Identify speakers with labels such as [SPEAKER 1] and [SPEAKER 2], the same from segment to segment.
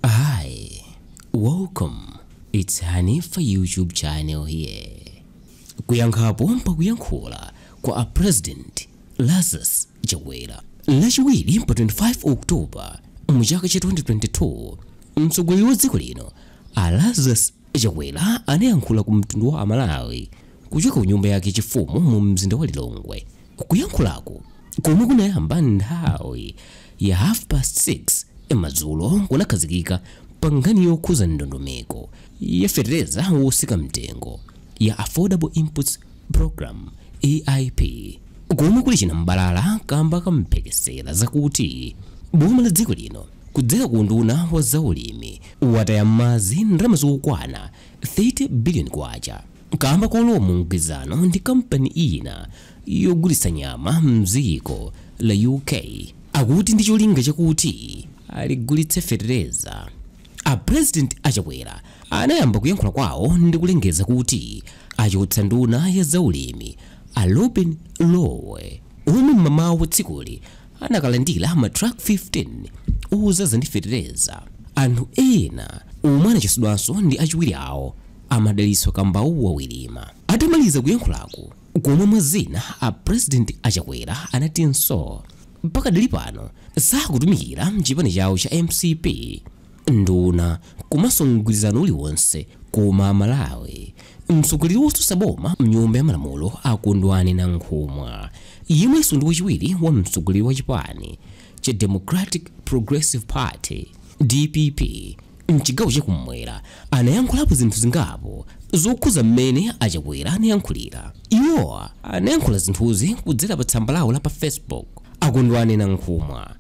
[SPEAKER 1] Hi, welcome. It's Hanifa YouTube channel here. Kuyankhapo pakuyankhula kwa a President Lazarus Chakwera. Lachiwiri pa 25 October mu chaka cha 2022, mtsogoleri wa dziko lino a Lazarus Chakwera anayankhula ku mtundu wa amalawi kuchoka ku nyumba yake chifumu mu mzinda wa Lilongwe. Kuyankhulako komwe kunayamba nthawi ya half past 6 madzulo kunakhazikika pa nkhani yokhuza ndondomeko ya fetereza wotsika mtengo ya Affordable Inputs Programme, AIP, komwe kuli chinam'balala kamba ka mphekesera zakuti boma la dziko lino Kudzera ku unduna wa za ulimi, lataya m'madzi ndalama zokwana 30 billion kwacha kamba kolowa mu mgwirizano ndi kampani ina yogulitsa nyama m'dziko la UK, akuti ndi cholinga chakuti aligulitse fetereza. A President a Chakwera anayamba kuyankhula kwawo ndi kulengeza kuti achotsa nduna ya za ulimi a Lobin Lowe omwe m'mamawa wa tsikuli, anakalandira matruck 15 ozaza ndi fetereza anthu ena omwe anachotsedwanso ndi achiwiri awo a Madalitso Kambauwa Wirima atamaliza kuyankhulako komwe mwa zina a president achakwera anatinso mpakadali pano sakutumikira mchipani chawo cha mcp nduna komanso mgwirizano uliwonse koma amalawi mtsogoleri wotsutsa boma mnyumba ya malamulo akondwani nankhumwa yemwenso ndi wachiwiri wa mtsogoleri wa chipani cha democratic progressive party dpp mchigawo chakumwera anayankhulapo zinthu zingapo zokhuza mmene achakwera anayankhulira iwowa anayankhula zinthuzi kudzera pa tsamba lawo la pa facebook akondwani nankhumwa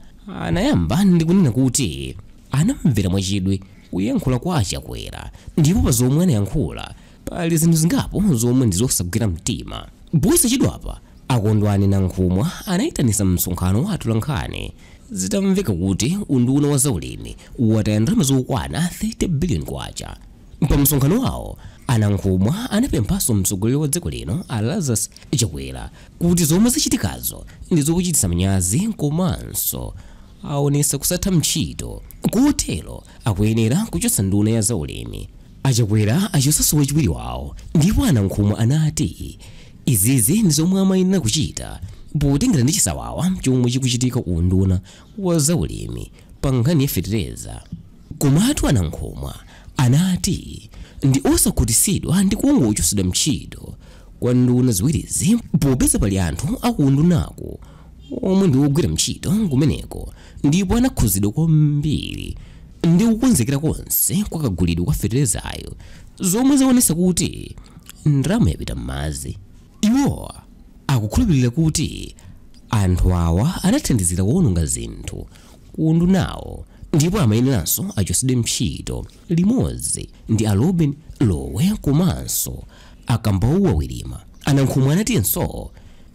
[SPEAKER 1] Anayamba ndi kunena kuti anamvera mwachidwi kuyankhula kwa a Chakwera ndipo pa zomwe anayankhula pali zinthu zingapo zomwe ndi zosagwira mtima. Posachedwapa, a Kondwani Nankhumwa anayitanisa msonkhano wa atolankhani zitamveka kuti unduna wa zaulimi wataya ndalama zokwana 30 billion kwacha. Pa msonkhano wawo, a Nankhumwa anapemphanso mtsogoleri wa dziko lino a Lazarus Chakwera kuti zomwe zachitikazo ndi zokuchititsa manyazi komanso awonetsa kusatha ntchito kotero akuyenera kuchotsa nduna ya za ulimi. A Chakwera achotsanso wachiwiri wawo ndipo a Nankhumwa anati izizi ndi zomwe amayenera kuchita potengera ndi chisawawa chomwe chikuchitika ku unduna wa za ulimi pa nkhani ya fetereza. Komatu a Nankhumwa anati ndi osakhutisidwa ndi kungochosedwa mtchito kwa nduna ziwirizi popeza pali anthu aku undunaku omwe ndi ogwira mtchito kumeneko ndipo anakhuzidwa kwambiri ndi kukonzekera konse kwa kagulidwe kwa feterezayo zomwe zawonesa kuti ndalama yapita mmadzi. Iwo akukhulupilira kuti anthu awa anathandizira kuononga zinthu. ku undunawo ndipo amayeneranso achotsedwe ntchito limodzi ndi a Lobin Lowe komanso a Kambauwa Wirima. A Nankhumwa anatinso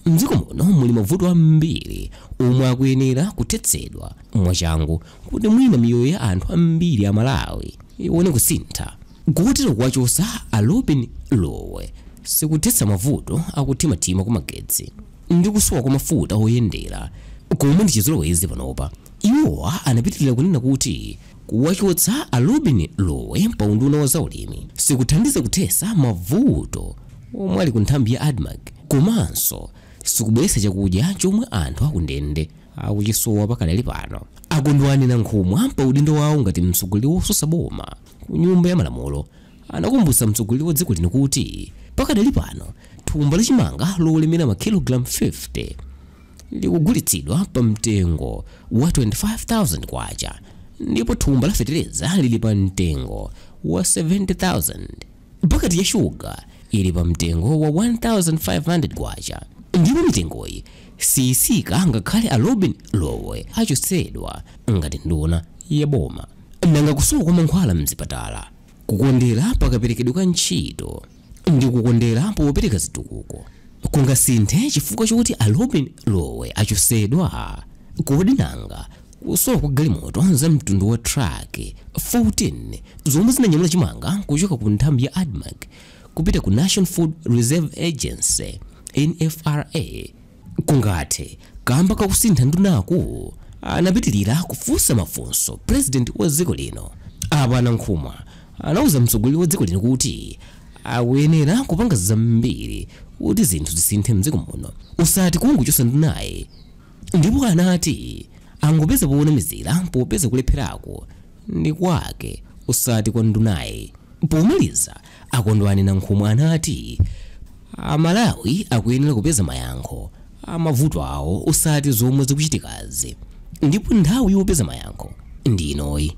[SPEAKER 1] m'dziko muno muli mavuto ambiri omwe akuyenera kuthetsedwa mwachangu kuti mwina miyoyo ya anthu ambiri a Malawi ione kusintha. Kotero kuwachosa a Lobin Lowe sikuthetsa mavuto a kuthimathima kumagetsi ndi kusowa kwa mafuta oyendera komwe ndi chizolowezi panopa. Iwo anapitilira kunena kuti kuwachotsa a Lobin Lowe pa unduna wa zaulimi sikuthandiza kuthesa mavuto omwe ali ku nthambi ya Admarc komanso sikubweretsa chakudya chomwe anthu akundende akuchisowa pakadali pano. A Kondwani Nankhumwa pa udindo wawo ngati mtsogoleri wosusa boma, ku nyumba ya malamulo anakumbutsa mtsogoleri wa dziko lino kuti pakadali pano thumba la chimanga lolemera makilogalamu 50 likugulitsidwa pa mtengo wa 25,000 kwacha ndipo thumba la fetereza lili pa mtengo wa 70,000 paketi ya shuga ili pa mtengo wa 1,500 kwacha ndipo mitengoyi siyisika ngakhale a Lobin Lowe achotsedwa ngati nduna ya boma Nanga kusowa kwa mankhwala m'zipatala, kukondera pa kaperekedwe ka ntchito, ndi kukondera popereka zitukuko kungasinthe chifukwa chokuti a Lobin Lowe achosedwa? Kodi nanga kusowa kwa galimoto za mtundu wa truck 14 zomwe zinanyamula chimanga kuchoka ku nthambi ya Admarc kupita ku National Food Reserve Agency, NFRA, kungathe kamba kakusintha ndunaku anapitilira kufunsa mafunso president wa dziko lino apa a nankhumwa anauza mtsogoleri wa dziko lino kuti akuyenera kupanga zambiri kuti zinthu zisinthe mdziko muno usati kungochosa ndunayi ndipo anati angopeza poonamizira popeza kulepherako ndi kwake usati kwa ndunayi pomaliza A Kondwani Nankhumwa anati Amalawi akuyenera kupeza mayankho a mavuto awo usati zomwe zikuchitikazi ndipo nthawi yopeza mayankho ndi inoyi.